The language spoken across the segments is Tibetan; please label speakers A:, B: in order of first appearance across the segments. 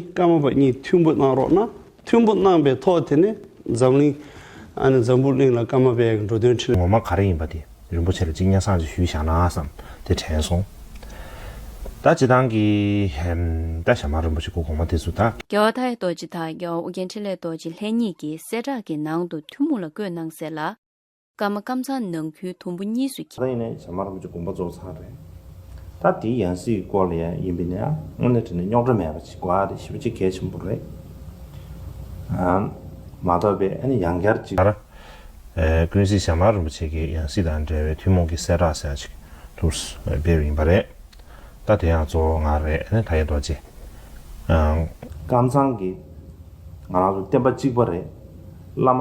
A: སྐར་མ་པ་གཉིས་མཐུན་པོ་གནང་རོགས་གནང། མཐུན་པོ་གནང་པའི་ཐོག་དེ་ནས་འཛམ་གླིང། ཨ་ནི་འཛམ་བུ་གླིང་ལ་སྐར་མ་པའི་འགྲོ་དོན་ཁྲིད། ངོ་མ་ག་རེ་ཡིན་པ་དེ་རིན་པོ་ཆེ་ལ་གཅིག་སྙན་སང་ཅིག་ཞུས་བཞག་ན་བསམ་
B: དེ་དྲན་སོང། ད་སྤྱི་བཏང་གི། ད་ཞྭ་དམར་རིན་པོ་
C: ཆེ་སྐུ་གོང་མ་དེ་ཚོ་ད། རྒྱལ་བ་ཐའི་རྡོ་རྗེ་དང་རྒྱལ་བ་ཨོ་རྒྱན་འཕྲིན་ལས་རྡོ་རྗེ་ལྷན་གཉིས་ཀྱིས་གསལ་བསྒྲགས་ཀྱི་ནང་དུ་ཐུན་མོང་ལ་བཀོད་གནང་གསལ་ལ། སྐར་མ་སྐམ་ཚང་ནང་ཁྱོན་དུམ་བུ་གཉིས་སུ་གྱེས། ད་ལྟ་ཡིན་ན་ཇག་དམར་ཁོང་ཚོའི་དགོངས་པ་རྫོགས་ཚར་རེད། ད་དེའི་ཡང་སྲིད་སྐོར་ལ་ཡང་ཡིན་པས་ན་དངོས་གནས་བྲིས་ན་རྙོག་དྲ་མེད་པ་ཞིག་དགོས་ཨ་རེ་ཞེས་པ་
B: ཅི་གལ་ཆེན་པོ་རེད། མ་གཏོགས་པའི་ཨ་ནི་ཡང་བསྐྱར་ཅིག། ལྟར། ཀུན་གཟིགས་ཞྭ་དམར་རིན་པོ་ཆེ་གིས་ཡང་སྲིད་དང་འབྲེལ་བའི་ཐུན་མོང་གི་གསལ་བསྒྲགས་ཟེར་ཡག་ཅིག་ཐུགས་སྤེལ་བ་ཡིན་པ་རེད། ད་དེ་ཡང་གཙོ་བོ་ང་རེད་ཨ་ནི་ད་ཡེ་རྡོ་རྗེ། སྐམ་ཚང་གིས་ང་རང་ཚོ་བསྟན་པ་གཅིག་པ་རེད། བླ་མ།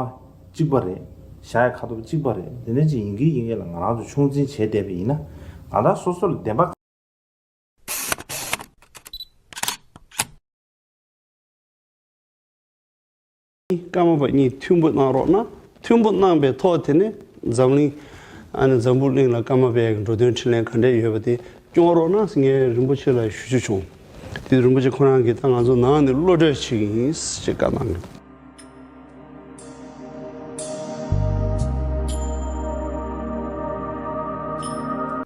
B: གཅིག་པ་རེད། བཞག་ཡ་ཁ་ཐུབ་གཅིག་པ་རེད་འདི་འདྲ་ཅིག་ཡིན་གི་ཡིན་གི་ལ་ང་རང་ཚོ་ཆུང་འཛིན་བྱས་བསྡད་པ་ཡིན་ན་ང་རང་སོ་སོ་ལ་བདེན་པ།
A: ཀ་མ་པ་གཉིས་མཐུན་པོ་གནང་རོགས་གནང་མཐུན་པོ་གནང་པའི་ཐོག་དེ་ནས་འཛམ་གླིང། ཨ་ནི་འཛམ་བུ་གླིང་ལ་ཀ་མ་པའི་འགྲོ་དོན་འཕྲིན་ལན་ག་འདྲས་ཡོད་པ་དེ་སྐྱོང་རོགས་གནང་ངས་རིན་པོ་ཆེ་ལ་ཞུ་རྒྱུ་བྱུང། དེ་དུས་རིན་པོ་ཆེ་ཁོ་རང་གིས་ད་ང་ཚོ་ནང་ནས་བློ་གྲོས་ཆེ་གི་ཡིན་ཞེས་བཀའ་གནང།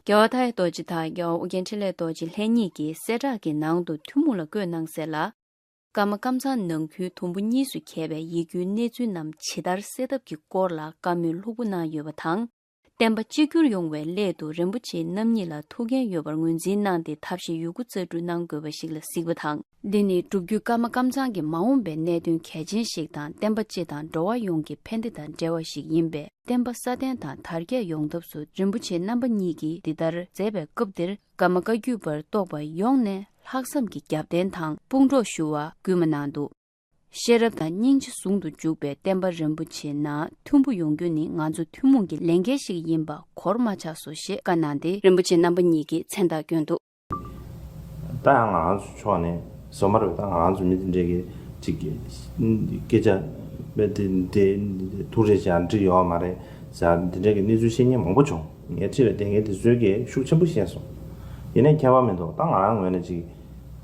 C: རྒྱལ་བ་མཐའ་ཡས་རྡོ་རྗེ་དང་རྒྱལ་བ་ཨོ་རྒྱན་འཕྲིན་ལས་རྡོ་རྗེ་ལྷན་གཉིས་ཀྱིས་གསལ་བསྒྲགས་ཀྱི་ནང་དུ་ཐུན་མོང་ལ་བཀོད་གནང་གསལ་ལ། ཀརྨ་སྐམ་ཚང་ནང་ཁུལ་དུམ་བུ་གཉིས་སུ་གྱེས་པའི་ཡིག་རྒྱུའི་གནས་ཚུལ་རྣམས་ཇི་ལྟར་སེལ་ཐབས་ཀྱི་སྐོར་ལ་བཀའ་མོལ་ལྷུག་པོ་གནང་ཡོད་པ་དང། བསྟན་པ་གཅིག་གྱུར་ཡོང་བའི་སླད་དུ་རིན་པོ་ཆེ་རྣམ་གཉིས་ལ་ཐུགས་འགན་ཡོད་པར་ངོས་འཛིན་གནང་སྟེ་ཐབས་ཤེས་ཡོད་རྒུ་རྩ་སྤྲུགས་གནང་དགོས་པ་ཞིག་ལ་གཟིགས་པ་དང། འདི་ནི་སྒྲུབ་བརྒྱུད་ཀརྨ་ཀམ་ཚང་གི་མ་འོངས་པའི་གནད་དོན་གལ་ཆེན་ཞིག་དང་བསྟན་པ་སྤྱི་དང་འགྲོ་བ་ཡོངས་ཀྱི་ཕན་བདེ་དང་འབྲེལ་བ་ཞིག་ཡིན་པས་བསྟན་པ་སྲ་བརྟན་དང་དར་རྒྱས་ཡོང་ཐབས་སུ་རིན་པོ་ཆེ་རྣམ་པ་གཉིས་ཀྱིས་འདི་ལྟར་མཛད་པའི་སྐབས་འདིར་ཀརྨ་བཀའ་བརྒྱུད་པར་གཏོགས་པ་ཡོངས་ནས་ལྷག་བསམ་གྱི་རྒྱབ་རྟེན་དང་དཔུང་གྲོགས་ཞུ་བ་སྐུལ་མ་གནང་འདུག། ཤེས་རབ་དང་སྙིང་རྗེ་ཟུང་དུ་འཇུག་པའི་བསྟན་པ་རིན་པོ་ཆེ་ནང་མཐུན་པོ་ཡོང་རྒྱུ་ནི་ང་ཚོ་ཐུན་མོང་གི་ལས་འགན་ཞིག་ཡིན་པ་གོར་མ་ཆགས་སོ་ཞེས་བཀའ་གནང་སྟེ། རིན་པོ་ཆེ་རྣམ་པ་གཉིས་ཀྱིས་མཚན་རྟགས་བསྐྱོན་འདུག།
B: ད་ཡང་ང་ཚོ་ཕྱོགས་ནས་བཟོ་མ་རེད་ད་ང་ཚོ་མི་འདི་འདྲས་ཀྱི་ཅིག་སྐད་ཆ་ཐུགས་རེ་ཞག་འདྲི་ཡོད་མ་རེད་ཟེར་ཡང་འདི་འདྲས་ཀྱི་གནས་ཚུལ་བཤད་ཉན་མང་པོ་བྱུང་ངས་ཁྲི་ལ་བསྡད་མཁན་དེ་ཚོའི་ཀྱིས་ཤུགས་ཆེན་པོ་བཤད་སོང་ཡིན་ནས་ཁྱད་པར་མི་འདུག་ད་ང་རང་ངོས་ནས་ཅིག།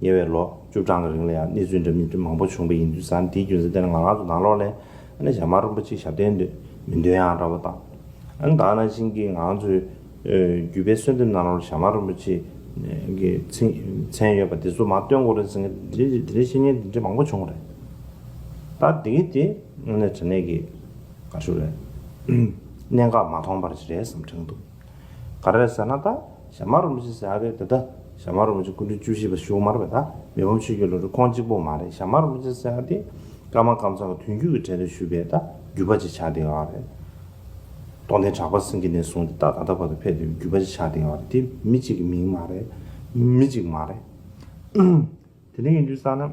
B: ཉེ་བའི་ལོ་བཅུ་གྲངས་ཀྱི་རིང་ལ་ཡང་གནས་ཚུལ་འདྲ་མིན་མང་པོ་བྱུང་བས་ཡིན་དུས་ས་འདིའི་རྒྱུན་ས་དེ་ནི་ང་ང་ཚོ་ནང་ལོགས་ལས་ཨ་ནེ་ཞྭ་དམར་རིན་པོ་ཆེའི་ཞབས་བརྟན་འདོད་མི་འདོད་ཡང་འདྲ་བོ་དང། ཨ་ནེ་དྭགས་ན་ཕྱིན་གྱི་ང་ང་ཚོའི་རྒྱུད་པའི་གསོལ་འདེབས་ནང་ལོགས་ལ་ཞྭ་དམར་རིན་པོ་ཆེ་གི་མཚན་ཡོད་པ་འདི་ཚོ་མ་སྟོན་གོ་རེ་ཟེར་མཁན་དེ་འདྲའི་དེ་འདྲའི་བཤེས་གཉེན་དེ་འདྲའི་མང་པོ་བྱུང་བ་རེད། ད་དེ་གི་དེ་ཨ་ནེ་དྲ་གནས་ཀྱི་དགའ་ཕྱོགས་རེད། གནད་འགག་མ་མཐོང་པར་ཅི་རེད་བསམ་དྲན་འདུག། ག་རེ་ཟེར་ན་ད་ཞྭ་དམར་བོ་མི་ཤི་ཟེར་ཨ་རེད་ད་ད་ཞྭ་དམར་བོ་མི་ཤི་སྐུ་མགྲོན་བཅུ་བཞི་པ་ཞུགས་མར་བས་ད་མི་ཕམ་ཆོས་རྒྱུད་ལོ་རེ་ཁོང་གཅིག་པོ་མ་རེད་ཞྭ་དམར་བོ་མི་ཤི་ཟེར་ཨ་དེ་སྐར་མ་སྐར་མཚམས་ཀྱི་དུས་འགྱུར་གྱི་གྲལ་རེ་ཞུགས་པས་ད་བརྒྱུད་པ་ཅིག་ཆགས་བསྡད་ཡོང་བ་རེད། སྟོང་ལྡན་གྲགས་པ་སེང་གེ་ནས་བཟུང་སྟེ་ད་ད་ལྟ་བར་དུ་ཕེབས་བསྡད་པའི་བརྒྱུད་པ་ཅིག་ཆགས་བསྡད་ཡོང་བ་རེད་དེ་མི་གཅིག་གི་མིང་མ་རེད། མི་གཅིག་མ་རེད། དེ་འདྲ་ཡིན་དུས་བསམ་ན།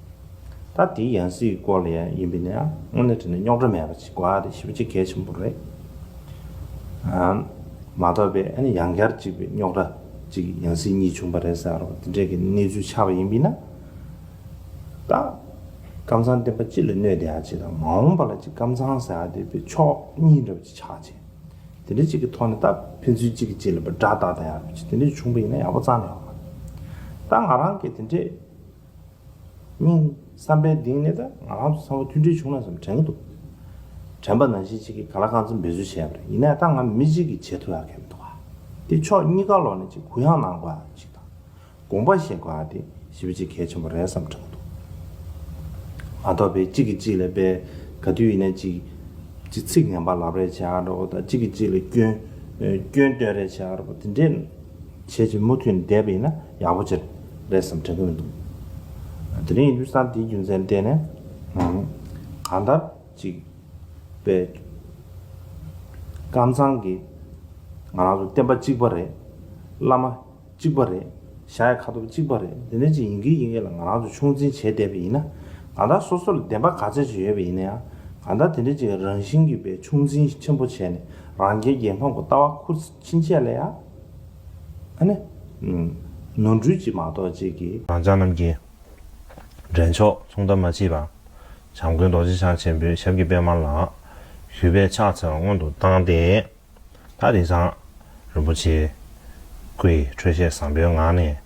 B: ད་དེའི་ཡང་སྲིད་ཀྱི་སྐོར་ལ་ཡང་ཡིན་པས་ན་དངོས་གནས་དྲིས་ན་རྙོག་དྲ་མེད་པ་ཞིག་གོ་དེ་ཞིབ་པ་ཆེ་གལ་ཆེན་པོ་རེད། མ་རྟོགས་པས་ཨ་ནི་ཡང་བསྐྱར་གཅིག་པའི་རྙོག་དྲ་གཅིག་ཡང་སྲིད་གཉིས་བྱུང་པ་རེད་ཟེར་རོགས་དེ་འདྲའི་གི་གནས་ཚུལ་ཆགས་པ་ཡིན་པས་ན། ད་ཀམ་ཚང་བསྟན་པ་སྤྱི་ལ་གནོད་དེ་ཨ་ཅེ་དང་མ་འོངས་པ་ལ་གཅིག་ཀམ་ཚང་ཟེར་ཨ་དེ་པའི་ཕྱོགས་གཉིས་འདྲ་པོ་ཅིག་ཆགས་ཆེ། དེ་འདྲའི་གཅིག་གི་ཐོག་ནས་ད་ཕན་ཚུན་གཅིག་གི་གཅིག་ལ་པ་དགྲ་བདག་དང་ཡང་རོ་གཅིག་དེ་འདྲའི་བྱུང་པ་ཡིན་ན་ཡག་པོ་ཙང་ཡོད། ད་ང་རང་གི་དེ་འདྲའི། གཉིས། བསམ་པའི་གདིང་ནི་ད་ང་རང་ཚོ་ཚང་མ་མཐུན་སྒྲིལ་བྱུང་ན་བསམ་དྲན་གྱི་འདུག་དྲན་པ་ནང་བཞིན་གཅིག་གིས་ག་ལ་གང་ཚོད་འབད་བརྩོན་བྱས་པ་རེད་ཡིན་ནའི་ད་ང་མི་གཅིག་གིས་བྱེད་ཐུབ་ཡག་གི་མི་འདུག་ག་དེ་ཕྱོགས་གཉིས་ཀ་ལོག་ནས་གཅིག་གུ་ཡངས་གནང་དགོས་ཡག་གི་ཞིག་དང། དགོངས་པ་བཞེས་དགོས་ཡག་དེ་ཞི་བ་གཅིག་གལ་ཆེན་པོ་རེད་བསམ་དྲན་གྱི་འདུག་མ་གཏོགས་པའི་གཅིག་གིས་གཅིག་ལ་དཔེ་ག་དུས་ཡིན་ནའི་གཅིག་གིས་ཚིག་ངན་པ་ལབ་རེས་བྱས་ཡག་རེད་བོ་དང་གཅིག་གིས་གཅིག་ལ་སྐྱོན་སྐྱོན་བཏོན་རེས་བྱས་ཡག་རེད་བོ་དེ་འདྲས་བྱས་བྱས་མུ་མཐུད་ནས་བསྡད་པ་ཡིན་ན། ཡག་པོ་བྱེད་རེད་བསམ་དྲན་གྱི་མི་འདུག་དེ་རིང་ཡུལ་ས་འདིའི་རྒྱུ་མཚན་བལྟས་ནས་གང་ལྟར་ཅིག་པའི་ཀམ་ཚང་གིས་ང་རང་ཚོ་བསྟན་པ་གཅིག་པ་རེད་བླ་མ་གཅིག་པ་རེད་གཞའ་ཡི་ཁ་ཐོབ་གཅིག་པ་རེད་དེ་འདྲ་ཅིག་ཡིན་གི་ཡིན་གི་ལ་ང་རང་ཚོ་ཆུང་འཛིན་བྱས་བསྡད་པ་ཡིན་ན་གང་ལྟར་སོ་སོ་ལ་བདེན་པ་ག་ཚད་ཅིག་ཡོད་པ་ཡིན་ན་ཡང་གང་ལྟར་དེ་འདྲ་ཅིག་རང་བཞིན་གྱི་པའི་ཆུང་འཛིན་ཆེན་པོ་བྱས་ནས་རང་རྒྱལ་རྒྱལ་ཕམ་གྱི་ལྟ་བ་ཁུར། ཕྱིན་ཆད་ལ་ཡང། ནོར་འཁྲུལ་གྱིས་མ་རྟོགས་ཅིག་གི། རང་ཅག་རྣམས་ཀྱི། འདྲེན་མཆོག་མཚུངས་ལྟ་མ་མཆིས་པ། བྱམས་མགོན་རྡོ་རྗེ་འཆང་ཆེན་པོའི་ཞབས་ཀྱི་པདྨ་ལ། ཞུས་པས་ཕྱག་འཚལ་བ་སྔོན་དུ་བཏང་སྟེ། ད་རེས་ཀྱང། རིན་པོ་ཆེའི། སྐུ་ཡི་འཕྲོད་བཞེས་བཟང་པོའི་ངང་ནས།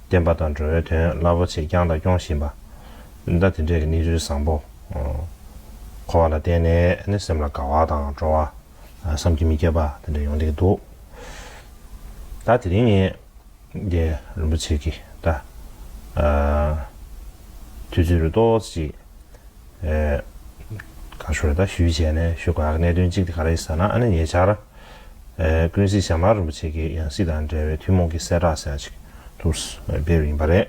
B: བསྟན་པ་དང་འགྲོ་བའི་དོན་རླབས་པོ་ཆེ་བསྐྱངས་དང་སྐྱོང་བཞིན་པ། ཟླ་དེ་འདྲའི་གནས་ཚུལ་བཟང་པོ། འཁོར་བ་ལ་བརྟེན་ནས་སེམས་ལ་དགའ་བ་དང་སྤྲོ་བ། བསམ་གྱིས་མི་ཁྱབ་པ་དེ་འདྲ་ཡོང་སྡད་ཀྱི་འདུག་ད་དེ་རིང་ངས་རྒྱལ་རིན་པོ་ཆེ་གི་ད་དུས་
D: ཚོད་རེ་ཏོག་ཙེ་ཅིག་གང་ཞུ་རེ་ད་ཞུས་བྱས་ནས་ཞུ་དགའ་གནད་དོན་གཅིག་དེ་ག་རེད་ཟེར་ན་ཨ་ནི་ཉེ་ཆར་ཀུན་གཟིགས་ཞྭ་དམར་རིན་པོ་ཆེ་གི་ཡང་སྲིད་དང་འབྲེལ་བའི་ཐུན་མོང་གི་གསལ་བསྒྲགས་ཟེར་ཡང་ཅིག་ཐུགས་སུ་འབེབས་ཡིན་པ་རེད།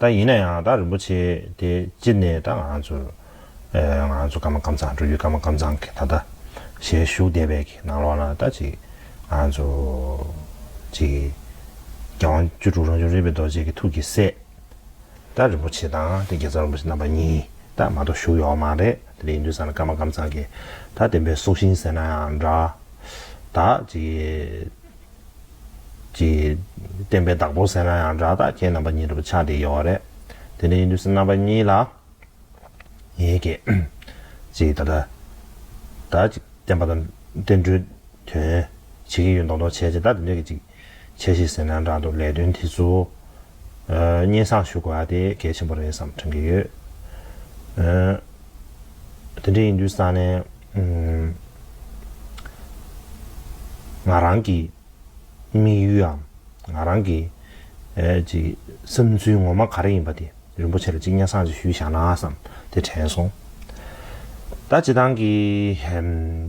D: ད་ཡིན་ན་ཡང་ད་རིན་པོ་ཆེ་དེ་ཅི་ནས་ད་ང་ཚོར། ང་ཚོ་ཀརྨ་ཀམ་ཚང་འགྲོ་རྒྱུའི་ཀརྨ་ཀམ་ཚང་གི་ད་ལྟ་ཞལ་བཞུགས་བསྡད་པའི་གི་ནང་ལོགས་ན་ད་ཅིག་ང་ཚོ། ཅིག། རྒྱལ་དབང་བཅུ་དྲུག་རང་བྱུང་རིག་པའི་རྡོ་རྗེ་གི་ཐུགས་ཀྱི་སྲས། ད་རིན་པོ་ཆེ་དང་དེ་རྒྱལ་ཚབ་རིན་པོ་ཆེ་རྣམ་པ་གཉིས་ད་མ་གཏོགས་བཞུགས་ཡོད་མ་རེད་དེ་ལས་ཡིན་དུས་སང་ལ་ཀརྨ་ཀམ་ཚང་གི་ད་བདེན་པའི་སྲོག་ཤིང་ཟེར་ན་ཡང་འདྲ། ད་ཅིག། ཀྱི། བསྟན་པའི་བདག་པོར་ཟེར་ན་ཡང་འདྲ་བདག་ཁྱེད་རྣམ་པ་གཉིས་རེ་བ་ཆགས་དེ་ཡོད་རེད། དེ་འདྲའི་ཡིན་དུས་སུ་རྣམ་པ་གཉིས་ལ། ངེད་ཀྱིས། ཅིག་ད་ལྟ། ད་ཅིག་བསྟན་པ་དང་བསྟན་འགྲོའི་དོན། བྱེད་ཀྱི་ཡོད་མདོག་མདོག་བྱས་རྗེས་ད་དེ་འདྲ་གི་ཅིག། བྱས་ཤིག་ཟེར་ན་འདྲ་འདུག་ལས་དོན་དེ་ཚོ། སྙན་བསངས་ཞུ་དགོས་ཨ་དེ་གལ་ཆེན་པོ་རེད་བསམ་དྲན་གྱི་ཡོད། དེ་འདྲ་ཡིན་དུས་ས་ནས། ང་རང་གི་དམིགས་ཡུལའམ་ང་རང་གི་བསམ་ཚུལ་ངོ་མ་ག་རེ་ཡིན་པ་དེ་རིན་པོ་ཆེ་ལ་གཅིག་སྙན་གསང་ཅིག་ཞུས་བཞག་ན་བསམ་དེ་དྲན་སོང། ད་བྱེད་སྟངས་ཀྱི་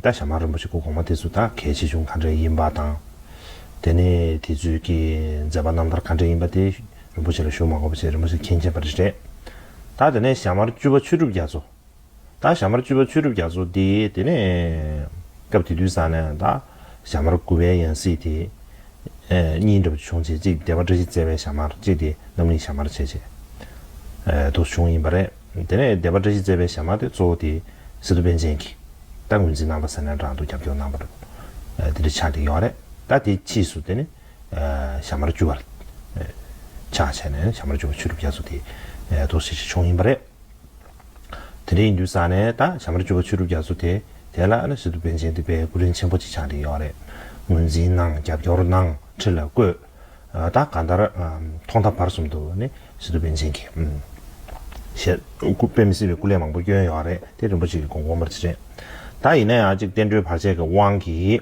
D: ད་ཞྭ་དམར་རིན་པོ་ཆེ་སྐུ་གོང་མ་དེ་ཚོ་ད་གལ་ཆེ་ཆུང་ག་འདྲ་ཡིན་པ་དང། དེ་ནས་དེ་ཚོའི་ཀྱི་མཛད་པ་རྣམ་ཐར་ག་འདྲ་ཡིན་པ་དེ། རིན་པོ་ཆེ་ལ་ཞུ་མ་གོ་བ་བྱས་རིན་པོ་ཆེ་མཁྱེན་བྱས་པ་རེ་རེད། ད་དེ་ནས་ཞྭ་དམར་བཅུ་པ་ཆོས་གྲུབ་རྒྱ་མཚོ། ད་ཞྭ་དམར་བཅུ་པ་ཆོས་གྲུབ་རྒྱ་མཚོ་དེ་དེ་ནས། སྐབས་དེ་དུས་སང་ནས་ད་ཞྭ་དམར་དགུ་པའི་ཡང་སྲིད་དེ། གཉིས་འདྲ་བ་བྱུང་བྱས་གཅིག་སྡེ་བ་བཀྲ་ཤིས་བརྩེ་བའི་ཞྭ་དམར་གཅིག་དེ་རྣམ་གླིང་ཞྭ་དམར་བྱས་བྱས། དུ་བྱུང་ཡིན་པ་རེད། དེ་ནས་སྡེ་བ་བཀྲ་ཤིས་བརྩེ་བའི་ཞྭ་དམར་དེ་གཙོ་བོ་དེ་སི་ཏུ་པན་ཆེན་གྱིས། ད་ངོས་འཛིན་གནང་པ་ཟེར་ནས་རང་དུ་རྒྱབ་སྐྱོར་གནང་པ་རེད། དེ་འདྲ་ཆགས་ཀྱི་ཡོད་རེད། ད་དེ་ཕྱིས་སུ་དེ་ནི། ཞྭ་དམར་བཅུ་བར་ཕྱག་བྱས་ནས་ཞྭ་དམར་བཅུ་བ་ཆུ་སྒྲུབ་རྒྱ་མཚོ་དེ་ཐོག་སྲིད་ཞི་མཆོག་ཡིན་པ་རེད། དེ་འདྲའི་ཡིན་དུས་ས་ནས་ད་ཞྭ་དམར་བཅུ་བ་ཆུ་སྒྲུབ་རྒྱ་མཚོ་དེ་དེ་ལ་ཨ་ན་སི་ཏུ་པན་ཆེན་འདི་པའི་སྐུ་རིན་ཆེན་པོ་གཅིག་ཆགས་འདི་ཡོག་རེད། ངོས་འཛིན་གནང་རྒྱབ་སྐྱོར་གནང་ཁྲི་ལ་བཀོད། ད་ག་འདར་ཐོག་མཐའ་བར་གསུམ་དུ་ནི་སི་ཏུ་པན་ཆེན་གྱི་ཞལ་སྐུ་དཔེ་མི་སྲིད་པའི་སྐུ་ལས་མང་པོ་བསྐྱོན་ཡོག་རེད་དེ་རིན་པོ་ཆེ་གི་དགོངས་དགོངས་པར་བྱེད་རེད། ད་ཡིན་ན་ཡང་གཅིག་བསྟན་འགྲོའི་བར་ཆད་ཀྱི་དབང་གིས།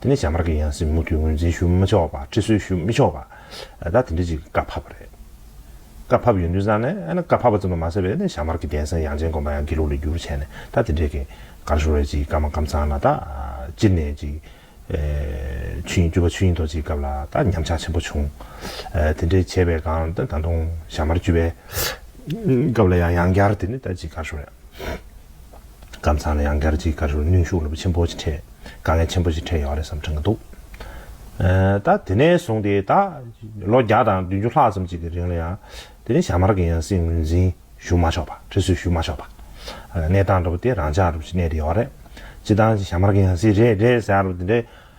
D: དེ་ནས་བྱ་དམར་གྱི་ཡང་སྲིད་མུ་མཐུད་ངོས་འཛིན་ཞུ་མི་ཆོག་པ་ཁྲི་སྲོལ་ཞུ་མི་ཆོག་པ། ད་དེ་འདྲ་ཅིག་བཀའ་ཕབ་པ་རེད། བཀའ་ཕབ་ཡོད་འདུན་བསམ་ནས་ཨ་ན་བཀའ་ཕབ་པ་ཙམ་དུ་མ་ཟད་པའི་བྱ་དམར་གྱི་གདན་སའི་ཡང་ཅན་དགོན་པ་ཡང་དགེ་ལུགས་ལས་བསྒྱུར་བྱས་ནས་ད་དེ་འདྲས་ཀྱི་གར་ཤོར་བས་ཅིག་བཀའ་མ་བཀའ་ཚང་ལ་ད་སྤྱིར་ནས་ཅིག་ཆུ་ཡིན་སྐྱུར་པ་ཆུ་ཡིན་ཐོག་ཅིག་སྐབས་ལ་ད་ཉམས་ཆག་ཆེན་པོ་བྱུང། དེ་འདྲས་བྱས་པའི་སྒང་ད་ད་དུང་བྱ་དམར་བཅུ་པའི་སྐབས་ལ་ཡང་ཡང་བསྐྱར་དེ་ནས་ད་ཅིག་གར་ཤོར་ཡང། སྐམ་ཚང་ལ་ཡང་སྒེར་གྱི་དགའ་ཞུར་གནོན་ཤུགས་ཆེན་པོ་ཞིག་འཕྲད། དཀའ་ངལ་ཆེན་པོ་ཞིག་འཕྲད་ཡོད་རེད་བསམ་དྲན་གྱི་འདུག་ད། དེ་ནས་བཟུང་སྟེ་ད། ལོ་བརྒྱ་དང་བདུན་ཅུ་ལྷག་ཙམ་ཅིག་གི་རིང་ལ་ཡང། དེ་རིང་ཞྭ་དམར་གྱི་ཡང་སྲིད་ངོས་འཛིན་ཞུ་མ་ཆོག་པ། ཁྲི་སྲོལ་ཞུ་མ་ཆོག་པ། གནས་སྟངས་འདྲ་པོ་དེ་རང་འཇགས་འགྲོ་བཞིན་གནས་དེ་ཡོད་རེད། སྤྱི་བཏང་ཞྭ་དམར་གྱི་ཡང་སྲིད་རེད་རེད་ཟེར་ཡ་རབས་དེ་འདྲའི།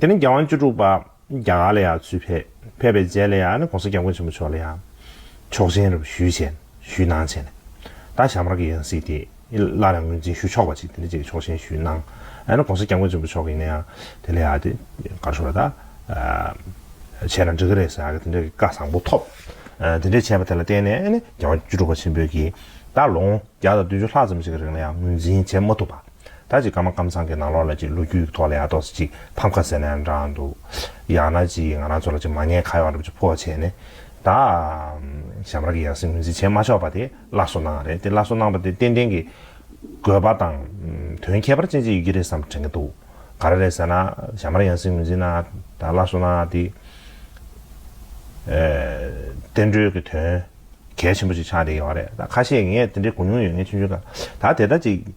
D: དེ་ནས་རྒྱལ་དབང་བཅུ་དྲུག་པ་རྒྱ་གར་ལ་ཡང་ཚུད་ཕེབས། ཕེབས་པའི་རྗེས་ལ་ཡང ྋགོང་ས ྋསྐྱབས་མགོན་ཆེན་པོ་མཆོག་ལ་ཡང་ཆོག་མཆན་རེ་བ་ཞུས་བྱས་ནས་ཞུས་གནང་བྱས་ནས། ད་ཞྭ་དམར་གྱི་ཡང་སྲིད་དེ་སླར་ཡང་ངོས་འཛིན་ཞུ་ཆོག་པ་ཅིག་དེ་འདྲ་ཅིག་ཆོག་མཆན་ཞུས་གནང། ྋགོང་ས ྋསྐྱབས་མགོན་ཆེན་པོ་མཆོག་གིས་ནས་ཡང་དེ་ལ་ཡང་དེ་གར་ཞུ་བ་དང་བྱས་ན་འགྲིག་གི་རེད་ཟེར་ཡང་དེ་འདྲ་གི་བཀའ་བཟང་པོ་ཐོབ། དེ་འདྲ་བྱས་པ་དེ་ལ་བརྟེན་ནས་རྒྱལ་དབང་བཅུ་དྲུག་པ་ཆེན་པོས་ཀྱིས་ད་ལོ་ངོ་བརྒྱ་དང་བདུན་ཅུ་ལྷག་ཙམ་ཞིག་གི་རིང་ལ་ཡང་ངོས་འཛིན་བྱས་མ་ཐུབ་པ། ད་ཅིག་ཀ་མ་ཀམ་ཚང་གི་ནང་ལོགས་ལ་ཅིག་ལོ་རྒྱུས་ཀྱི་ཐོག་ལ་ཡར་ཏོག་སུ་ཅིག་ཕམ་ཁ་ཟེར་ནའང་འདྲ་འདུག་ཡང་ན་ཅིག་ང་རང་ཚོ་ལ་ཅིག་མ་ཉེས་ཁ་ཡོག་འདྲ་པོ་ཅིག་ཕོག་བྱས་ནས་ད་ཞམ་ར་གི་ཡང་སྲིད་ངོས་འཛིན་བྱེད་མ་ཆོག་པ་དེ་སླར་གསོ་གནང་རེད་དེ་སླར་གསོ་གནང་བ་དེ་ཏན་ཏན་གྱི་དགོས་པ་དང་དོན་ཁྱད་པར་ཅན་ཅིག་ཡོད་ཀྱི་རེད་བསམ་དྲན་གྱི་འདུག་ག་རེ་རེད་ཟེར་ན་ཞམ་ར་ཡང་སྲིད་ངོས་འཛིན་གནང་ད་སླར་གསོ་གནང་དེ་བསྟན་འགྲོའི་གྱི་དོན་གལ་ཆེན་པོ་ཅིག་ཆགས་བསྡད་ཡོད་རེད་ད་ཁ་ཤས་ངས་དེ་འདྲའི་གོ་མྱོང་ཡོད་ངེས་ཆུང་ཆུང་ག་ད་དེ་ལྟར་ཅིག་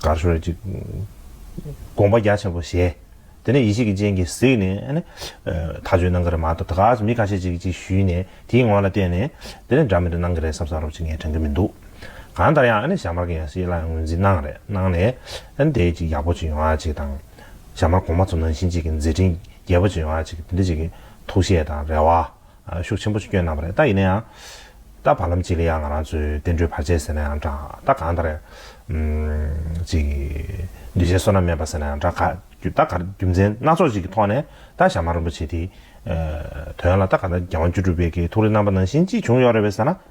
D: དགའ་ཤོར་བ་ཅིག། དགོངས་པ་རྒྱ་ཆེན་པོ་བཞེས། དེ་ནས་ཡེ་ཤེས་ཀྱི་སྤྱན་གྱིས་གཟིགས་ནས། མཐའ་ཆོད་གནང་གི་རེད་མ་གཏོགས་ད་ག་ཟེ་མི་ཁ་ཤས་ཅིག་ཅིག་ཞུས་ནས་དེའི་ངོ་ལ་བལྟས་ནས། དེ་ནས་འདྲ་མི་འདྲ་གནང་གི་རེད་བསམ་བསམ་རོགས་ཅིག་ངས་དྲན་གི་མི་འདུག་གང་ལྟར་ཡང་ཞྭ་དམར་གྱི་ཡང་སྲིད་སླར་ཡང་ངོས་འཛིན་གནང་རེད་གནང་ནས། དེའི་ཅིག་ཡག་པོ་ཅིག་ཡོང་བ་ཅིག་དང། ཞྭ་དམར་གོང་མ་ཚོ་ནང་བཞིན་ཅིག་མཛད་འཕྲིན་རྒྱས་པོ་ཅིག་ཡོང་བ་ཅིག་དེ་འདྲ་ཅིག་གི་ཐུགས་བཞེད་དང་རེ་བ། ཤུགས་ཆེན་པོ་སྐྱོན་གནང་བ་རེད་ད་ཡིན་ན་ཡང། ད་བར་ལམ་གཅིག་ལ་ཡང་ང་རང་ཚོས་བསྟན་འགྲོའི་བར་ཆད་ཟེར་ན་ཡང་འདྲ། ད་གང་ལྟར། ཅིག། འདུས་བྱས་བསོད་ནམས་མེད་པ་ཟེར་ན་ཡང་འདྲ། ག། ད་གར་རྒྱུ་མཚན་སྣ་ཚོགས་ཅིག་གི་ཐོག་ནས་ད་ཞྭ་དམར་རིན་པོ་ཆེ་དེའི། དོན་ལ་ད་ག་ད་རྒྱལ་དབང་བཅུ་དྲུག་པའི་གི་ཐུགས་རེ་རྣམ་པ་ནང་བཞིན་ཅིག་བྱུང་ཡོད་རེད་བས་ཟེར་ན།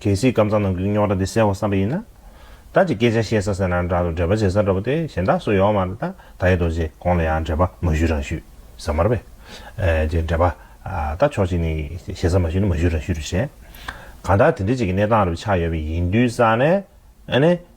D: གལ་སྲིད་སྐམ་ཚང་ནང་གི་རྙོག་དྲ་འདི་སེལ་བར་བསམ་པ་ཡིན་ན། བདག་ཅིག་སྐད་ཆ་བཤད་ས་ཟེར་ན་འདྲ་འདུག་འདྲེས་པ་བྱེད་ས་འདྲ་པོ་དེ་གཞན་དག་སུ་ཡོང་མ་རེད་ད་ད་ཡེ་རྡོ་རྗེ་ཁོང་ལ་ཡང་འདྲེས་པ་མ་ཞུས་རང་ཞུས་ཟེར་མ་རེད་པས། རྗེས་འདྲེས་པ། ད་ཕྱོགས་གཅིག་ནས་བཤད་ས་མ་ཞུས་ན་མ་ཞུས་རང་ཞུས་རེད་བཤད། གང་ལྟར་དེ་འདྲའི་ཅིག་གི་གནས་སྟངས་རེ་བ་ཆགས་ཡོད་པས་ཡིན་དུས་ས་ནས།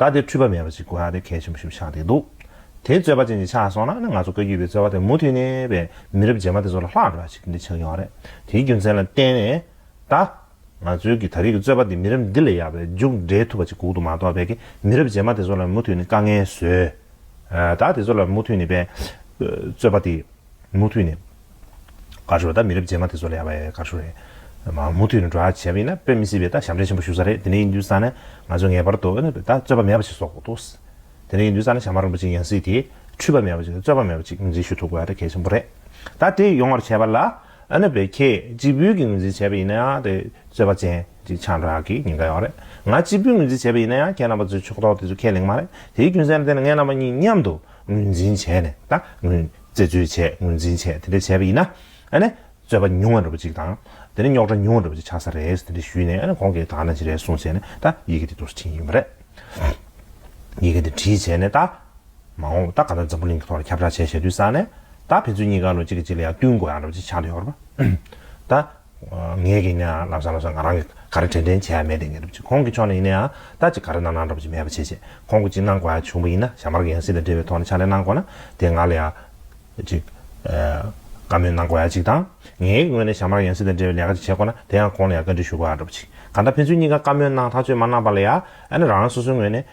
D: ད་དེ་འཁྲུལ་པ་མེད་པ་ཞིག་དགོས་ཡག་དེ་གལ་ཆེན་པོ་ཞིག་ཆགས་བསྡད་འདུག་དེ་རྩོད་པ་ཅན་གྱི་ཆགས་སོང་ན་ང་ཚོ་བཀའ་རྒྱུད་པའི་རྩོད་པ་དེ་མུ་མཐུད་ནས་པའི་མི་རབས་རྗེས་མ་དེ་ཚོ་ལ་ལྷག་འགྲོ་བ་ཞིག་འདི་ཆགས་ཀྱི་ཡོད་རེད་དེའི་རྒྱུ་མཚན་ལ་བརྟེན་ནས་ད། ང་ཚོའི་གི་ད་རིགས་ཀྱི་རྩོད་པ་འདི་མི་རབས་འདི་ལས་ཡག་པའི་མཇུག་འབྲས་ཐུབ་པ་ཅིག་གུག་འདུག་མ་གཏོགས་པའི་གི་མི་རབས་རྗེས་མ་དེ་ཚོ་ལ་མུ་མཐུད་ནས་དཀའ་ངལ་བཟོས། ད་དེ་ཚོ་ལ་མུ་མཐུད་ནས་པའི་རྩོད་པ་དེ་མུ་མཐུད་ནས། ག་ཤོ་ད་མི་རབས་རྗེས་མ་དེ་ཚོ་ལ་ཡག་པའི་ག་ཤོ་རེད། མ་མུ་མཐུད་ནས་འགྲོ་ཡག་བྱས་པ་ཡིན་ན་དཔེ་མི་སྲིད་པའི་ད་ཞབས་འདྲེན་ཆེན་པོ་ཞུ་ས་རེད་དེ་ནས་ཡིན་དུས་ས་ནས་ང་ཚོས་ངེས་པར་དུ་ཨོ་ན་པེ་ད་རྩོད་པ་མེད་པ་ཞིག་བཟོ་དགོས་འདུག་དེ་ནས་ཡིན་དུས་ས་ནས་ཞྭ་དམར་རིན་པོ་ཆེ་ཡང་སྲིད་དེ་འཁྲུལ་པ་མེད་པ་ཞིག་རྩོད་པ་མེད་པ་ཅིག་ངོས་འཛིན་ཞུ་ཐུབ་དགོས་ད་གལ་ཆེན་པོ་རེད། ད་དེ་ཡོང་བར་བྱས་པ་ལ་ཨོ་ན་པེ་ཁྱེད་གཅིག་བུས་ཀྱིས་ངོས་འཛིན་བྱས་པ་ཡིན་ན་ཡང་དེ་རྩོད་པ་ཅན་ཅིག་ཆགས་འགྲོ་ཡག་གི་ཉེན་ཁ་ཡོད་རེད་ང་གཅིག་བུས་ངོས་འཛིན་བྱས་པ་ཡིན་ན་ཡང་ཁྱེད་རྣམ་པ་ཚོའི་ཕྱོགས་གཏོགས་དེ་ཚོ་ཁས་ལེན་གི་མ་རེད་དེའི་རྒྱུ་མཚན་ལ་བརྟེན་ནས་ངེད་རྣམ་པ་གཉིས་མཉམ་དུ་ངོས་འཛིན་བྱས་ནས་ད་ངོས། རྩད་གཅོད་བྱས་ངོས་འཛིན་བྱས་དེ་འདྲ་བྱས་པ་ཡིན་ན། ཨ་ནི། རྩོད་པ་ཉུང་བ་འགྲོ་བ་ཅིག་དང། དེ་ནི་རྙོག་དྲ་ཉུང་བ་འགྲོ་བ་ཅིག་ཆགས་ས་རེད་དེ་འདྲ་ཞུས་ནས་ཨ་ནི་གོང་གི་དག་སྣང་ཅི་རེད་གསུངས་བྱས་ནས་ད་ཡི་གེ་འདི་འདུག་ཟེར་གྱིན་ཡོད་པ་རེད། ཡི་གེ་འདི་བྲིས་བྱས་ནས་ད། མ་འོངས་ད་ག་ནོད་འཛམ་བུ་གླིང་གི་ཐོག་ལ་ཁྱབ་བསྒྲགས་བྱས་བྱས་དུས་བསགས་ནས། ད་ཕན་ཚུན་གཉིས་ཀ་ལོ་གཅིག་གི་རྗེས་ལ་ཡང་བསྟུན་དགོས་ཡག་འགྲོ་བ་ཅིག་ཆགས་འདོད་ཡོད་པ་རེད། ད། ངེད་ཀྱིས་ནི་ལབ་ས་ལབ་ས་ང་རང་གིས་ག་རེ་དྲན་དྲན་བྱས་ཡ་མེད་དེ་ངེད་སྒྲུབ་ཅིག་ཁོང་གི་ཕྱོགས་ནས་ཡིན་ན་ཡང་ད་ཅིག་ག་རེ་གནང་གནང་སྒྲུབ་ཅིག་མེད་པ་བྱེད་བྱེད་ཁོང་གིས་ཅིག་གནང་དགོས་ཡ་བྱུང་བ་ཡིན་ན་ཞྭ་དམར་གྱི་ཡང་སྲིད་ལ་འབྲེལ་བའི་ཐོག་ནས་ཕྱག་ལས་གནང་དགོས་ན་དེ་ང་ལ་ཡང་ཅིག་བཀའ་མོལ་གནང་དགོས་ཡ་ཅིག་དང་ངེད་ཀྱི་ངོས་ནས་ཞྭ་དམར་གྱི་ཡང་སྲིད་དང་འབྲེལ་བའི་ལས་ཀ་ཅིག་བྱེད་དགོས་ན་དེ་ཡང་ཁོང་ལ་ཡང་བཀའ་དྲིན་ཞུ་དགོས་ཡ་སྒྲུབ་ཅིག་གང་ལྟར་ཕན་ཚུན་གཉིས་ཀ་བཀའ་མོལ་གནང་ཐག་གཅོད་མ་གནང་བ་ལ་ཡང་ན་རང་རང་སོ་སོའི་ངོས་ནས་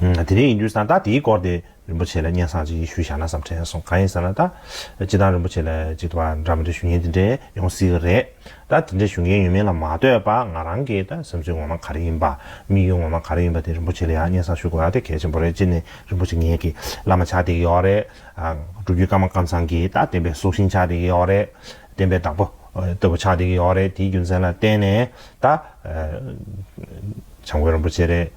D: དེ་རིང་ཡིན་དུས་ད་ལྟ་དེའི་སྐོར་དེ་རིན་པོ་ཆེ་ལ་སྙན་གསང་ཅིག་ཞུ་བཞག་ན་བསམ་དྲན་སོང་གང་ཡིན་ཟེར་ན་ད་སྤྱི་བཏང་རིན་པོ་ཆེ་ལ་ཅིག་ཏུ་བ་འདྲ་མི་འདྲ་ཞུ་ཉེན་དེ་འདྲས་ཡོང་སྲིད་གི་རེད་ད་དེ་འདྲས་ཞུ་མཁན་ཡོད་མེད་ལ་མ་ལྟོས་པ་ང་རང་གི་ད་སེམས་ཚོད་ངོ་མ་ག་རེ་ཡིན་པ་དམིགས་ཡུལ་ངོ་མ་ག་རེ་ཡིན་པ་དེ་རིན་པོ་ཆེ་ལ་ཡང་སྙན་གསང་ཞུ་དགོས་ཡ་དེ་གལ་ཆེན་པོ་རེད་སྤྱིར་ནས་རིན་པོ་ཆེ་ངེད་ཀྱི་བླ་མ་ཆགས་བསྡད་ཀྱི་ཡོད་རེད་སྒྲུབ་བརྒྱུད་ཀརྨ་ཀརྨ་ཚང་གི་ད་བསྟན་པའི་སྲོག་ཤིང་ཆགས་བསྡད་ཀྱི་ཡོད་རེད་བསྟན་པའི་བདག་པོ་ལྟ་བུ་ཆགས་བསྡད་ཀྱི་ཡོད་རེད་དེའི་རྒྱུ་མཚན་ལ་བརྟེན་ནས་ད་བྱམས་མགོན་རིན་པོ་ཆེ་རེད།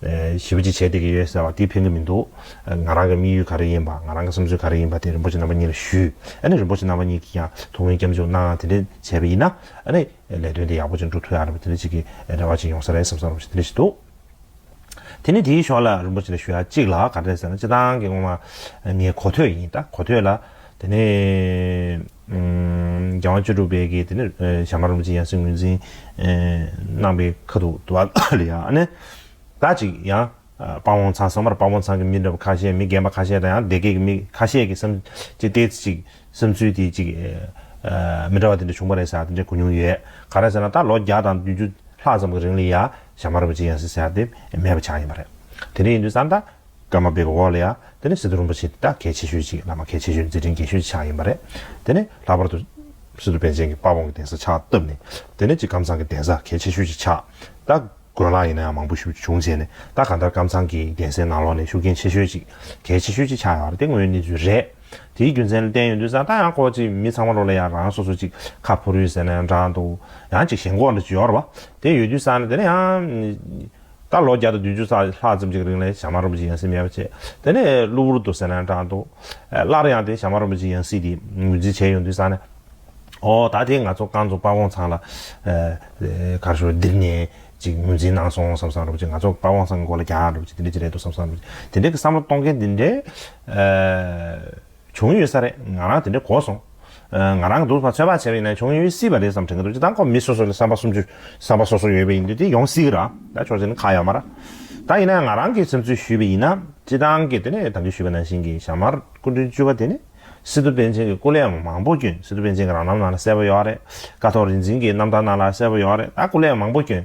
D: ཞི་བ་ཅིག་བྱས་བསྡད་ཀྱི་ཡོད་ཟེར་བ་དེ་ཕན་གྱི་མི་འདུག་ང་རང་གི་དམིགས་ཡུལ་ག་རེ་ཡིན་པ་ང་རང་གི་བསམ་ཚུལ་ག་རེ་ཡིན་པ་དེ་རིན་པོ་ཆེ་རྣམ་པ་གཉིས་ལ་ཞུས་ཨ་ནི་རིན་པོ་ཆེ་རྣམ་པ་གཉིས་ཀྱིས་ཀྱང་དུ་ངོས་སྐྱབས་འཇུག་གནང་དེ་འདྲས་བྱས་པ་ཡིན་ན་ཨ་ནི་ལས་དོན་དེ་ཡག་པོ་ཅིག་འགྲུབ་ཐུབ་ཡག་རེད་པ་དེ་འདྲས་ཅིག་གི་རེ་བ་ཅིག་ཡོང་ས་རེད་བསམ་བསམ་རུང་ཞིག་དེ་འདྲས་ཞིག་འདུག་དེ་ནི་དེའི་ཕྱོགས་ལ་རིན་པོ་ཆེ་ལ་ཞུ་ཡག་གཅིག་ལ་ག་འདྲས་ཟེར་ན་སྤྱི་བཏང་གི་ངོ་མ་ངའི་གོ་ཐོས་ཡིན་ད་གོ་ཐོས་ལ་དེ་ནི་རྒྱལ་དབང་བཅུ་དྲུག་པའི་དགེ་དེ་ནི་བྱམས་པ་རིན་པོ་ཆེ་ཡང་སྲིད་ངོས་འཛིན་གནང་པའི་ཁ་ཐུག་ཏུ་བ་ལ་ཡ་ཨ་ནི། ད་ཅིག་ཡང་དཔའ་བོང་ཚང་སོང་བར་དཔའ་བོང་ཚང་གི་མི་འདྲ་བ་ཁ་ཤས་མི་རྒན་པ་ཁ་ཤས་དང་ཡང་སྡེ་དགེ་གི་མི་ཁ་ཤས་ཀྱིས་བསམ་སྤྱི་ལྟའི་ཅིག་བསམ་ཚུལ་དེ་ཅིག་མི་འདྲ་བ་དེ་འདྲ་བྱུང་བ་རེད་ཟེར་དེ་འདྲ་གོ་མྱོང་ཡོད། ག་རེ་ཟེར་ན་ད་ལོ་བརྒྱ་དང་བདུན་ཅུ་ལྷག་ཙམ་གྱི་རིང་ལ་ཡ་བྱམས་པ་རིན་པོ་ཆེ་ཡང་སྲིད་ཟེར་དེ་མེད་པ་ཆགས་ཡིན་པ་རེད། དེ་འདྲ་ཡིན་དུས་སམ་ད། སྒྲ་མ་སྦས་པའི་འོག་ལ་ཡང་དེ་ནི་སི་ཏུ་རིན་པོ་ཆེ་འདི་དག་གལ་ཆེ་ཤོས་ཅིག་བླ་མ་གལ་ཆེ་ཤོས་མཛད་འཕྲིན་རྒྱས་ཤོས་ཀྱི་ཕྱག་ཡིན་པ་རེད། དེ་ནས་ལྷག་པར་དུ། སི་ཏུ་པཎ་ཆེན་གྱི་དཔའ་བོང་གི་གདན་ས་ཕྱག་བཏབ་ནས། དེ་ནས་ཅིག་ཀམ་ཚང་གི་གདན་ས་གལ་ཆེ་ཤོས་ཀྱི་ཕྱག་བཏབ། དགོན་ལག་ཡིན་ན་ཡང་མང་པོ་ཞུ་རྒྱུ་བྱུང་བྱས་ནས་ད་ག་ལྟར་ཀམ་ཚང་གི་གདན་སའི་ནང་ལོགས་ནས་ཤུགས་རྐྱེན་ཆེ་ཤོས་ཅིག་གལ་ཆེ་ཤོས་ཀྱི་ཕྱག་ཡོད་པ་དེ་དངོས་ཡོད་གནས་ཚུལ་རེད། དེའི་རྒྱུ་མཚན་ལ་བསྟན་ཡོད་དུས་སང་ད་ཡང་ཁོ་ཅིག་མི་ཚང་མ་ལོགས་ལ་ཡང་རང་སོ་སོ་ཅིག་ཁ་ཕོ་རུས་ཟེར་ན་ཡང་འདྲ་འདུག་ཡང་ཅིག་ཞེན་ཁོག་ལ་བྱོར་བ་དེ་ཡོད་དུས་སང་ད་ནི་ཡང། ད་ལོ་བརྒྱ་དང་བདུན་ཅུ་རྩ་ལྷག་ཙམ་གྱི་རིང་ལ་ཞྭ་དམར་རོམ་བྱེད་ཡང་སྲིད་མེད་པ་བྱས། དེ་ནས་གློ་བུར་དུ་ཟེར་ན་འདྲ་འདུག། སླར་ཡང་དེ་ཞྭ་དམར་རོམ་བྱེད་ཡང་སྲིད་དེ་ངོས་འཛིན་བྱས་ཡོང་དུས་བསམ་ན། ཨོ་ད་དེ་ང་ཚོ་རྐང་ཚོ་དཔའ་བོང་ཚང་ལ། གར་ཞོར་འདིར་ནས་ཅིག་ངོས་འཛིན་གནང་སོང་བསམ་བསམ་རོམ་བྱེད་ང་ཚོ་དཔའ་བོང་ཚང་གི་མགོ་ལ་རྒྱག་རོམ་བྱེད་དེ་འདྲ་ཅིག་རེད་འདུག་བསམ་བསམ་རོམ་བྱེད་དེ་འདྲའི་བསམ་བློ་གཏོང་མཁན་དེ་འདྲའི། བྱུང་ཡོད་ས་རེད་ང་རང་དེ་འདྲའི་གོ་སོང། ང་རང་གི་སྡུག་བསྔལ་ཚོད་དཔག་བྱས་པ་ཡིན་ན་བྱུང་ཡོད་སྲིད་པ་རེད་བསམ་དྲན་གྱི་འདུག་ཅི་ལྟར་ཁོ་མི་སོ་སོ་ལ་བསམ་པ་གསུམ་བཅུ་བསམ་པ་སོ་སོ་ཡོད་པ་ཡིན་དུས་དེ་ཡོང་སྲིད་གི་ར་ད་ཆོག་ཅིག་ན་ཁག་ཡག་མ་ར་ད་ཡིན་ན་ང་རང་གིས་སེམས་ཚུལ་ཞུས་པ་ཡིན་ན་སྤྱི་བཏང་གི་དེ་ནས་དམ་འབུལ་ཞུས་པ་ནང་བཞིན་གྱི་ཞྭ་དམར་སྐུ་མགྲོན་བཅུ་བ་དེ་ནི་སི་ཏུ་པཎ་ཆེན་གྱི་སྐུ་ལས་མང་པོ་བསྐྱོན་སི་ཏུ་པཎ་ཆེན་གྱི་རང་རྣམ་ནང་ལ་གསལ་པོ་ཡོད་རེད་ཀ་ཐོག་རིག་འཛིན་གྱི་རྣམ་ཐར་ནང་ལ་གསལ་པོ་ཡོད་རེད་ད་སྐུ་ལས་མང་པོ་བསྐྱོན།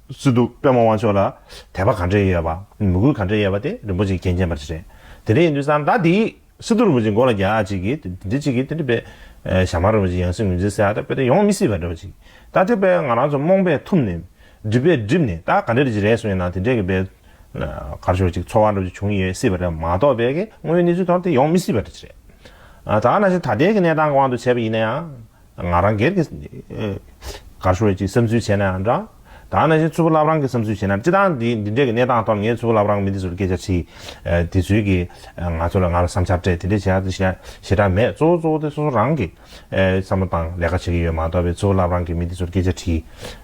D: སུ་འདུག་པདྨ་དབང་ཕྱོགས་ལ་དད་པ་ག་འདྲས་ཡོད་པ། མོས་གུས་ག་འདྲས་ཡོད་པ་དེ་རིན་པོ་ཆེ་མཁྱེན་མཁྱེན་པར་བྱེད། དེ་འདྲས་ཡིན་དུས་སང་ཟླ་འདིའི་སི་ཏུ་རིན་པོ་ཆེ་མགོ་ལ་རྒྱ་གཅིག་གིས་དེ་འདྲས་གཅིག་གིས་དེ་འདྲས་པས། ཞྭ་དམར་རིན་པོ་ཆེ་ཡང་སྲིད་ངོས་འཛིན་ཟེར་ཡ་ད་པེ་ད་ཡོང་མི་སྲིད་པ་འདྲ་བ་ཅིག་ད་དེ་པས་ང་རང་ཚོ་རྨོངས་པས་ཐུབ་ནས། སྒྲིབ་པས་སྒྲིབ་ནས་ད་ག་འདྲས་ཀྱིས་རེད་གསུངས་ཡོད་ན་དེ་འདྲས་ཀྱི་པས། གར་ཤོར་ཅིག་འཚོ་བ་འདྲ་བ་ཅིག་བྱུང་ཡོད་སྲིད་པ་རེད་མ་གཏོགས་པས་ཀྱི་དངོས་ཡོད་གནས་ཚུལ་དོར་དེ་ཡོང་མི་སྲིད་པ་འདྲ་ཅིག་རེད། ད་ནང་བཞིན་ད་ལྟའི་ཀྱི་གནས་སྟངས་ཀྱི་དབང་དུ་བྱས་པ་ཡིན་ན་ཡང། ང་རང་སྒེར་གྱི། གར་ཤོར་བའི་ཅིག་བསམ་ཚུལ་བྱས་ན་ཡང་འདྲ། ད་ནང་བཞིན་ཚུར་བུ་ལབ་རང་གི་བསམ་ཚུལ་བྱས་ན་ཅི་ད་འདི་འདི་འདྲའི་གི་གནས་སྟངས་ཐོག་ངས་ཚུར་བུ་ལབ་རང་མི་འདི་ཚོ་ལ་སྐད་ཆ་དྲིས། དེ་ཚུལ་གྱི། ང་ཚོ་ལ་ང་ལ་བསམ་འཆར་སྤྲད་དེ་འདྲས་བྱས་ཡ་དེ་བྱས་ཞེ་དྲག་མེད་གཙོ་བོ་གཙོ་བོ་དེ་སོ་སོ་རང་གི། བསམ་བློ་དང་ལས་ཀ་བྱེད་ཀྱི་ཡོད་མ་གཏོགས་པའི་ཚུར་བུ་ལབ་རང་གི་མི་འདི་ཚོ་ལ་སྐད་ཆ་དྲིས།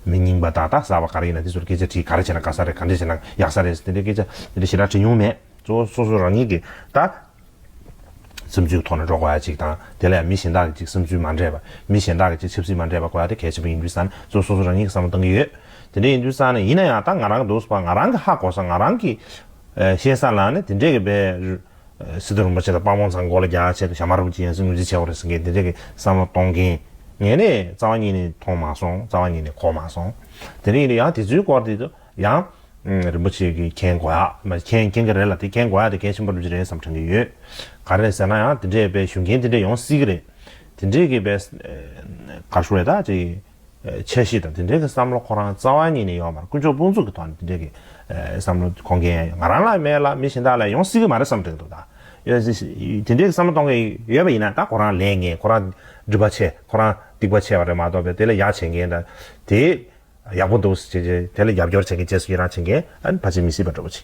D: མི་རྙིང་པ་དག་དག་ཟ་བ་ག་རེ་ཡིན་ན་འདི་ཚོ་ལ་སྐད་ཆ་དྲིས་ག་རེ་བྱས་ན་དགའ་ས་རེད་ག་འདྲས་བྱས་ན་ཡག་ས་རེད་དེ་འདྲའི་སྐད་ཆ་དེ་འདྲས་ཞེ་དྲག་དྲིས་མྱོང་མེད་གཙོ་བོ་སོ་སོ་རང་ཉིད་ཀྱི་ད། བསམ་ཚུལ་གྱི་ཐོག་ནས་འགྲོ་དགོས་ཡ་གཅིག་དང། དེ་ལ་ཡང་མི་གཞན་དག་གི་ཅིག་བསམ་ཚུལ་མ་འདྲེས་པ། མི་གཞན་དག་གི་ཅིག་ཆབ་སྲིད་མ་འདྲེས་པ་གོ་ཡ་དེ་གལ་ཆེན་པོ་ཡིན་དུས་སམ། གཙོ་བོ་སོ་སོ་རང་ཉིད་ཀྱི་བསམ་བློ་གཏང་གི་ཡོད། དེ་འདྲ་ཡིན་དུས་སམ་ནི་ཡིན་ན་ཡང་ད་ང་རང་གི་འདུག་ས་པ་ང་རང་གི་ཧ་གོ་ས་ང་རང་གི། ཤེས་ས་ལ་ནི་དེ་འདྲས་ཀྱི་བེ། སི་ཏུ་རིན་པོ་ཆེ་དང་དཔའ་བོང་ཚང་མགོ་ལ་རྒྱག་ཆེད་དུ་ཞྭ་མ་རུབ་ཀྱི་ཡང་སྲིད་ངོས་འཛིན་བྱས་བ་རེད་ཟེར་མཁན་དེ་འདྲས་ཀྱི་བསམ་བློ་གཏོང་མཁན། ངས་ནི་རྩ་བ་ཉིད་ནས་མཐོང་མ་སོང་རྩ་བ་ཉིད་ནས་གོ་མ་སོང། དེ་འདྲས་ཡིན་དུས་ཡང་དེ་ཚོའི་སྐོར་དེ་ཚོ། ཡང། རིན་པོ་ཆེ་གིས་མཁྱེན་དགོས་ཡ། མཁྱེན་མཁྱེན་གྱི་རེད་ལ་དེ་མཁྱེན་དགོས་ཡ་དེ་གལ་ཆེན་པོ་འགྲུབ་ཀྱི་རེད་བསམ་དྲན་གྱི་ཡོད། ག་རེད་ཟེར་ན་ཡང་དེ་འདྲས་པའི་ཞུ་མཁན་དེ་འདྲས་ཡོང་སྲིད་ཀྱི་རེད། དེ་འདྲས་ཀྱི་པའི། Graduate། ཀྱི། འཆར་གཞི་དང་དེ་འདྲས་ཀྱི་བསམ་བློ་ཁོ་རང་རྩ་བ་ཉིད་ནས་ཡོད་མ་རེད་དཀོན་མཆོག་དཔུང་ཚོགས་ཀྱི་ཐོག་ནས་དེ་འདྲས་ཀྱི། བསམ་བློ་གཏོང་མཁན་ང་རང་ལ་མེད་ལ་མི་གཞན་དག་ལ་ཡོང་སྲིད་ཀྱི་མ་རེད་བསམ་དྲན་གྱི་འདུག་ད། ཡོད་སྲིད། དེ་འདྲས་ཀྱི་བསམ་བློ་གཏོང་མཁན་ཡོད་པ་ཡིན་ན་ད་ཁོ་རང་ལས་ངན་ཁོ་རང་སྒྲིབ་པ་ཆེ་ཁོ་རང་སྡིག་པ་ཆེ་བ་རེད་མ་གཏོགས་པའི་དེ་ལ་ཡག་བྱེད་མཁན་དང་དེ། ཡག་པོ་འདུག་ཟེར་གྱི། དེ་ལ་རྒྱབ་སྐྱོར་བྱེད་མཁན་བཅས་སུ་ཡི་རངས་བྱེད་མཁན་ཨ་ཕ་ཆེ་མི་སྲིད་པ་འདྲ་པོ་ཆེ།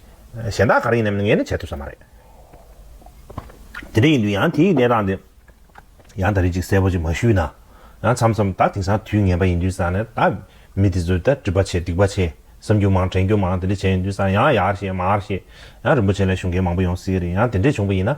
D: གཞན་དག་ག་རེ་ཡིན་ནམ་ནི་ངས་ནི་བྱེད་ཐུབ་ས་མ་རེད། དེ་འདྲ་ཡིན་དུས་ཡང་དེའི་གནས་སྟངས་དེ་ཡང་ད་རེས་ཅིག་གསལ་པོ་ཅིག་མ་ཞུས་ན། ཡང་མཚམས་མཚམས་ད་དེང་སང་དུས་ངན་པ་ཡིན་དུས་སང་ནི་ད་མི་དེ་ཚོས་ད་དྲི་བ་ཆེ་སྡིག་པ་ཆེ། བསམ་རྒྱུ་མང་དྲན་རྒྱུ་མང་དེ་འདྲ་བྱས་ཡོང་དུས་སང་ཡང་ཡར་བཤད་མར་བཤད། ཡང་རིན་པོ་ཆེ་ལ་ཞུ་མཁན་མང་པོ་ཡོང་སྲིད་གི་རེད་ཡང་དེ་འདྲས་བྱུང་པ་ཡིན་ན།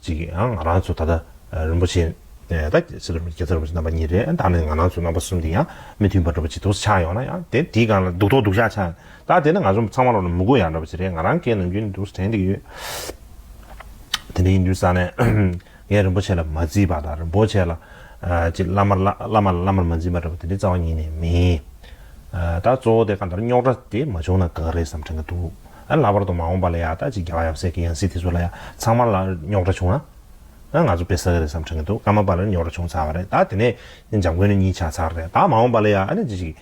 D: ཅིག་གིས་ཡང་ང་རང་ཚོ་ད་ལྟ་རིན་པོ་ཆེ་དང་རྒྱལ་ཚབ་རིན་པོ་ཆེ་རྣམ་པ་གཉིས་རེད་ཨ་ད་ནི་ང་རང་ཚོ་རྣམ་པ་གསུམ་དེ་ཡང་མི་མཐུན་པ་འགྲོ་པ་ཅིག་ཐུགས་སུ་ཆགས་ཡོང་ན་ཡང་དེ་དེའི་སྒང་ལ་སྡུག་ཐོག་སྡུག་ཤག་ཆགས་ཡོང་ད་དེ་ནི་ང་ཚོ་ཚང་མ་ལོ་ན་མི་དགོས་ཡག་འགྲོ་པ་ཅིག་རེད་ང་རང་སྐད་ནང་རྒྱུན་དུ་དྲན་གྱི་ཡོད། དེ་འདྲ་ཡིན་དུས་ས་ནས་ངས་རིན་པོ་ཆེ་ལ་མ་བརྩིས་པ་དང་རིན་པོ་ཆེ་ལ་ཅིག་བླ་མ་ལ་བླ་མ་ལ་བླ་མར་མ་འཛིན་པ་འདྲ་བོ་དེ་འདྲའི་རྩ་བ་ཉིད་ནས་མིན། ད་གཙོ་བོ་དེ་གང་ལྟར་རྙོག་དྲ་དེ་མ་བྱུང་ན་དགའ་གི་རེད་བསམ་དྲན་གྱི་འདུག། ཨ་ལྷག་པར་དུ་མ་འོངས་པ་ལ་ཡག་ད་ཅིག་རྒྱ་བ་ཡབ་སྲས་ཀྱི་ཡང་སྲིད་དེ་ཚོ་ལ་ཡང་ཚང་མ་ལ་རྙོག་དྲ་བྱུང་ན། ང་ཚོ་དཔེ་ཟ་གི་རེད་བསམ་དྲན་གི་འདུག་སྐར་མ་པ་ལ་རྙོག་དྲ་བྱུང་ཚར་བ་རེད་ད་དེ་ནས་འཇམ་མགོན་ནས་གཉིས་ཆགས་ཚར་རེད་ད་མ་འོངས་པ་ལ་ཡང་ཨ་ནི་ཅི་ཞིག་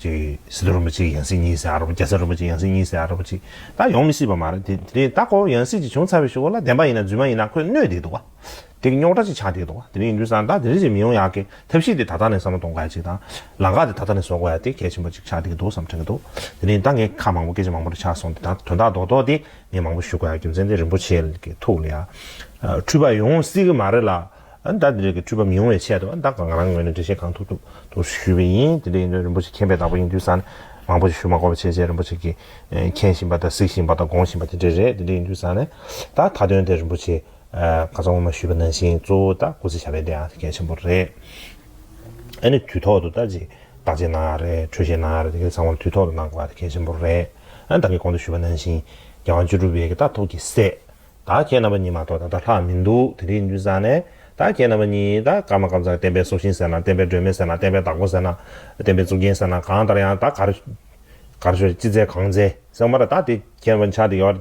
D: ཅིག་སི་ཏུ་རིན་པོ་ཆེ་ཀྱི་ཡང་སྲིད་གཉིས་སེ་ཨ་ར་བ་རྒྱ་བཟའ་རིན་པོ་ཆེ་ཡང་སྲིད་གཉིས་སེ་ཨ་ར་བ་ཅིག་ད་ཡོང་མི་སྲིད་པ་མ་རེད་དེ་དེ་རིང་ད་ཁོ་བོ་ཡང་སྲིད་ཅིག་བྱུང་ཚར་བའི་ཞུ་བ་ལ་བདེན་པ་ཡིན་ན་རྫུན་མ་ཡིན་ན་ཁོས་གནོད་བསྡད་འདུག་བ། དེ་གི་རྙོག་དྲ་ཅིག་ཆགས་བསྡད་འདུག་དེ་ནི་འདུན་ས་དང་དེ་རིང་ཅིག་མི་ཡོང་ཡག་གི་ཐབས་ཤེས་དེ་ད་ལྟ་ནས་བསམ་བློ་གཏོང་དཀའ་ཡག་ཅིག་དང། ལང་ཀ་དེ་ད་ལྟ་ནས་བཟོ་དགོས་ཡག་དེ་གལ་ཆེན་པོ་ཅིག་ཆགས་བསྡད་ཀྱི་འདུག་བསམ་དྲན་གྱི་འདུག་དེ་རིང་ད་ངས་ཁ་མང་པོ་སྐད་ཆ་མང་པོ་རེ་ཆགས་སོང་དེ་དང་དོན་དག་རྡོག་རྡོག་དེ་ངས་མང་པོ་ཞུ་དགོས་ཡག་རྒྱུ་མཚན་དེ་རིན་པོ་ཆེ་གི་ཐུགས་ལ་ཡག་འཁྲུལ་པ་ཡོང་སྲིད་གི་མ་རེད་ལ། ད་དེ་རིགས་ཀྱི་འཁྲུལ་པ་མི་ཡོང་བའི་ཆེད་དུ་ད་ང་རང་ངོས་ནས་འགྲེལ་བཤད་གང་ཐུབ་ཐུབ་ཐུབ་ཞུས་པ་ཡིན་དེ་འདྲ་ཡིན་དུས་རིན་པོ་ཆེ་མཁྱེན་པའི་བདག་པོ་ཡིན་དུས་ས་ནས་མང་པོ་ཞིག་ཞུ་མ་དགོས་པ་བྱས་བྱས་རིན་པོ་ཆེ་གི་མཁྱེན་བཞིན་པ་དང་གཟིགས་བཞིན་པ་དང་དགོངས་བཞིན་པ་དེ་འདྲ་རེད་དེ་འདྲ་ཡིན་དུས་ས་ནས་ད་ད་དོན་དེ་རིན་པོ་ཆེ། ང་ཚོ་སྔོན་མ་ཞུས་པ་ནང་བཞིན་གཙོ་བོ་དང་སྐུ་ཚེ་བྱ་བའི་སྡེ་ཡང་གལ་ཆེན་པོ་རེད། ཨ་ནི་དུས་ཐོག་ཏུ་ལྟ་ཅི། བརྟག་དཔྱད་གནང་ཡག་རེད་འཕྲོད་བཞེས་གནང་ཡག་རེད་དེ་གའི་ཚང་མར་དུས་ཐོག་ཏུ་གནང་དགོས་པ་དེ་གལ་ཆེན་པོ་རེད། ཨ་ནི་བདག་གིས་གོང་དུ་ཞུས་པ་ནང་བཞིན། རྒྱལ་དབང་བཅུ་དྲུག་པའི་གདའ་ཐོག་གི་སྲས། བདག་ཁྱེད་རྣམ་པ་གཉིས་མ་གཏོགས་ད་ལྟ་ལྷག་མི་འདུག་དེ་འདྲའི་རྒྱུན་བཟང་ནས། བདག་ཁྱེད་རྣམ་པ་གཉིས་ད་སྐར་མ་སྐར་མཚམས་བསྟན་པའི་སྲོག་ཤིང་ཟེར་ན་བསྟན་པའི་སྒྲོན་མེ་ཟེར་ན་བསྟན་པའི་བདག་པོ་ཟེར་ན། བསྟན་པའི་གཙུག་རྒྱན་ཟེར་ན་གང་ལྟར་ཡང་ད་གར། གར་ཤོར་ཅི་མཛད་གང་མཛད་ཟེར་མ་ཐག་བདག་དེ་ཁྱེད་རྣམ་པ་ཆགས་འདི་ཡོད།